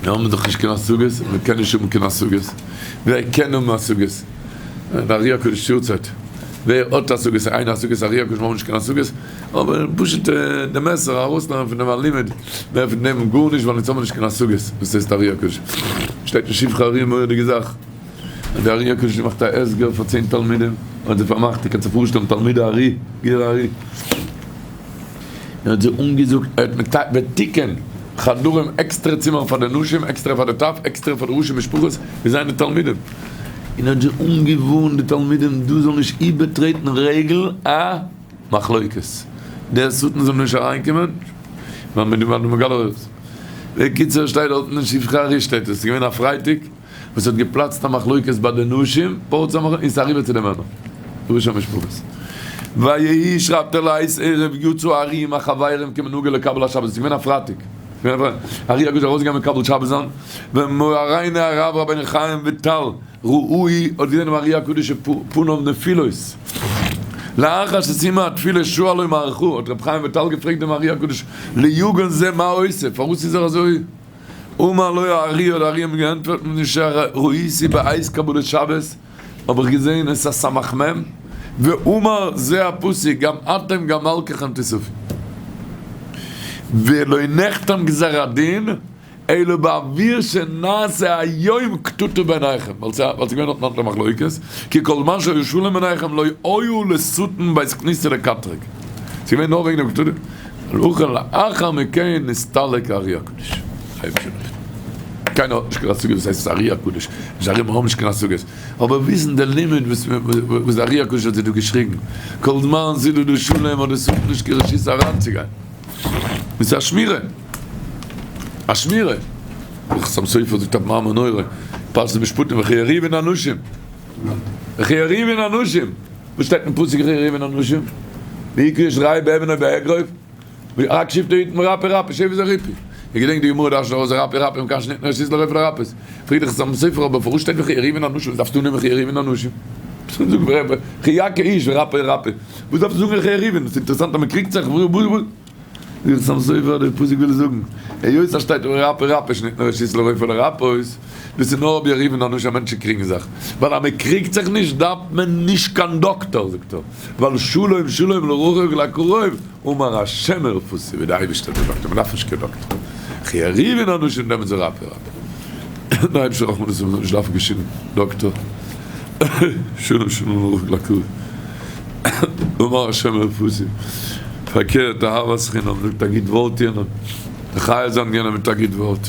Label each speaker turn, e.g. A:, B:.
A: מיר האבן דאך נישט קיין השגות, און מען קען נישט האבן קיין השגות. ווער קען האבן השגות? די ארי הקדוש יארצייט, ווער האט השגות? איין השגה איז ארי הקדוש, מיר האבן נישט קיין השגות, אבער פשוט די מעשר ארויסנעמען פון דעם א לימוד, מער פון דעם גארנישט, ווייל אונז האבן נישט קיין השגות, דאס הייסט ארי הקדוש. שטייט אין שבחי ארי א מורא'דיגע זאך, אז די ארי הקדוש מאכט א הסגר פאר צען תלמידים, האט זיי פארמאכט, איר קענט זיך פארשטעלן תלמידי ארי, גער ארי, מען האט זיי אנגעזאגט אז מען וועט תיקון חדרים עקסטרע צימערן פאר די נשים עקסטרע פאר די טף עקסטרע פאר די ראשי משפחות און זיינע תלמידים און האט זיי אנגעווארנט די תלמידים דאס זאל נישט איבערטרעטן רגל א מחלוקת דער שטן זאל נישט אריינקומען ווייל מען איז דא ביי די מגלה אורות בקיצור שטייט דארטן אין שפחה ארי' שטייט עס איז געווען א פרייטאג. וואס האט געפלאצט א מחלוקת ביי די נשים פארט צו א מחלוקת און ס'איז אריבער צו די מענער פירוש המשפחות ויהי שרייבט ער לייז ערב יו ט צו ארי עם החברים כמנהגו לקבל השבת ס'איז געווען א פרייטאג ארי הגדול איז ארויסגעגאנגען מקבל שבת זיין ווען מוהריינו הרב רבינו חיים וויטאל ראאאי האט געזען דעם ארי הקדוש פניו נפילות לאחר שסיימה התפילה שאלו מערכו האט רבי חיים וויטאל געפרעגט דעם ארי הקדוש ליוגון זה מה עושה פארוואס איז ער אזוי אמר לו הארי, האט די ארי אים געענטפערט מיט נישט א ר, ראיתי בעת קבלת שבת, האב איך געזעהן עס א סמך מם, ואמר זה הפסוק גם אתם גם מלקיכם תסופי, ולא נחתם גזר הדין אלא בעביר שנעשה היום קטטו בעיניכם, ווייל ס'איז געווען אויף נאנטע מחלוקת, כי כל זמן שהיה שלום בעיניכם לא היה לשטן בית כניסה לקטרג, ס'איז געווען נאר וועגן דעם קטטו. לאחר לאחר מכן נסתלק הארי הקדוש. קיינער האט נישט קיין השגה וואס הייסט הארי הקדוש, נישט ארימע האבן נישט קיין השגות, אבער ווי איז דען די לימיט וואס וואס די הארי הקדוש האט זיך דא געשריגן, כל זמן ס'איז דא דא שלום האט דאס אויך נישט קיין רשות אריינצוגיין, דאס איז א שמירה, א שמירה, די חתם סופר זאגט א מאמר נורא, פרשת משפטים, וכי יריבון אנשים. וכי עריבין אנשים, וואס שטייט אין פסוק וכי עריבין אנשים? ויקרא איש רעי' באבן אויב באגרוף, רק שבטו יתן רפי רפי שב איז א רפי. איך געדענק די גמרא דרשת ארויס רפי רפי און קיין שניט נאר שיז לרופא לרפות. פרידא איך זאל מסופר אבער פארוואס שטייט וכי עריבין אנשים דארפסטו אננעמען וכי עריבין אנשים. זאג וכי יקה איש ורפא רפי וואס דארפסטו זאגן וכי עריבין ס'אינטערעסאנט אז מ'קריגט זיך. זיך צום סופר אדער פאסיג וויל זאגן היות אז שטייט אויף רפא רפא איז נישט נאר ראשית לרופא אלא רפאות דאס איז נאר רבי ארי' פון אנוש אז מענטשן קריגן זיך ווייל אז מ'קריגט זיך נישט דארף מען נישט קיין דאקטאר זאגט ער ווייל שלום שלום לרחוק לקרוב אמר השם רפאתי ווי די אייבערשטער איז דער דאקטאר מ'דארף נישט קיין דאקטאר ר' ארי' פון אנוש און דעמאלטס איז רפא רפא. דער אייבערשטער רחמנות אז איך זאל נישט דארפן גיין שום דאקטאר, שלום שלום ברוך לקוי, אמר השם מרפסי, פארקערט אהבת חינם זאגט א גוט ווארט יענעם, די חיה זיין יענעם מיט א גוט ווארט.